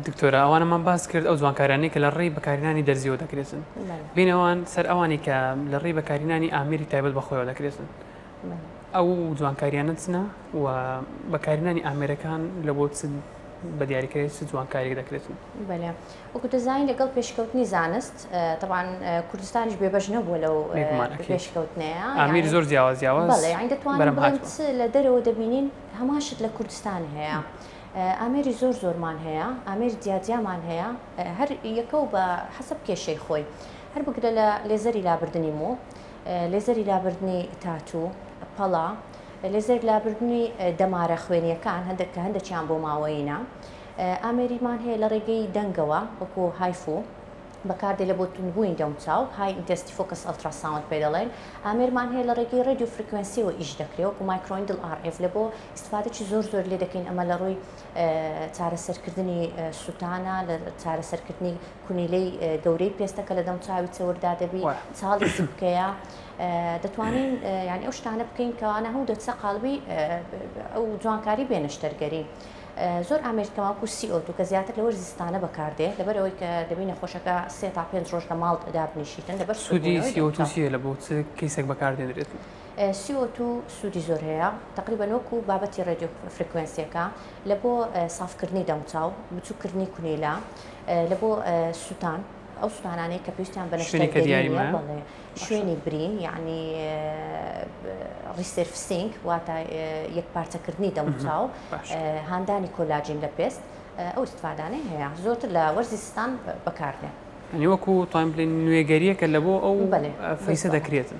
دکتۆرە ئەوانەمان باس کرد ئەو جوانکارانەی کە لە ڕێی بەکارهێنانی دەرزیەوە دەکرێتن بین ئەوان سەر ئەوانی کە لە ڕێی بەکارهێنانی ئامێری تایبەت بەخۆیەوە دەکرێتن ئەو جوانکاریانە چنە و بەکارهێنانی ئامێرەکان لە بۆ بە دیاریکرێت چ جوانکاریێک دەکرێتن بەێ وەکو دەزانین لەگەڵ پێشکەوتنی زانست تەوان کوردستانیش بێبەش نەبووە لەو پێشکەوتنەیە ئامیر زۆر جیاوازیاوە دەتوانین لە دەرەوە دەبینین هەمان شت لە کوردستان هەیە. ئامێری زۆر زۆرمان هەیە ئامێری جیا جیامان هەیە هەر یەکەو بە حەسەب کێشەی خۆی هەر بگرە لە لێزەری لابردنی مۆ لێزەری لابردنی تاتوو پەڵا لێزەر لابردنی دەمارە خوێنیەکان هەندێک کە هەندێکیان بۆ ماوەینە ئامێریمان هەیە لە ڕێگەی دەنگەوە وەکو هایفو بەکاردێ لە بۆ تونبووین دەموچاو های ئینتەستی فۆکس ئەلتراساوند پێ دەڵێن ئامێرمان هەیە لە ڕێگەی ڕێدیو فرکوێنسیەوە ئیش دەکرێ وەکو مایکرۆیندل ئاڕئف لە بۆ ئیستفادەی زۆر زۆر لێ دەکەین ئەمە لە ڕووی چارەسەرکردنی سووتانە لە چارەسەرکردنی کونیلەی گەورەی پێستەکە لە دەم چاوی چەوردا دەبی چاڵی سکەیە دەتوانین یعنی ئەو شتانە بکەین کەوانە هەموو دەچە قالبی ئەو جوانکاری بێنەشتەرگەری. زۆر ئامێرکەواکو سیئۆتو کە زیاتر لەوەر زستانە بەکاردێ لەبەرەوەی کە دەبی نەخۆشەکە سێ تا پێنج ڕۆژ لە ماڵ دابنیشیتن لەبەر سوودی سیۆتوسیە لە بۆ کەیسێک بەکاردێنرێت. سی ئۆ توو سوودی زۆر هەیە تەقریبەن وەکو بابەتی ڕێدیۆ فریکوێنسیەکە لە بۆ سافکردنی دەموچاو بچووکردنی کونیلا لە بۆ سووتان ئەو سووتانانەی کە پێویستیان بە نەشتەگەریمە شوێنی برین یعنی ڕیسرفسینگ واتە یەک پارچەکردنی دەموچاو هاندانی کۆلاجین لە پێست ئەو استفادانەی هەیە زۆرتر لە وەرزی ستان بەکاردێن هەنیوەکو تایم بلین نوێگەریەکە لە بۆ ئەو فیسە دەکرێتن.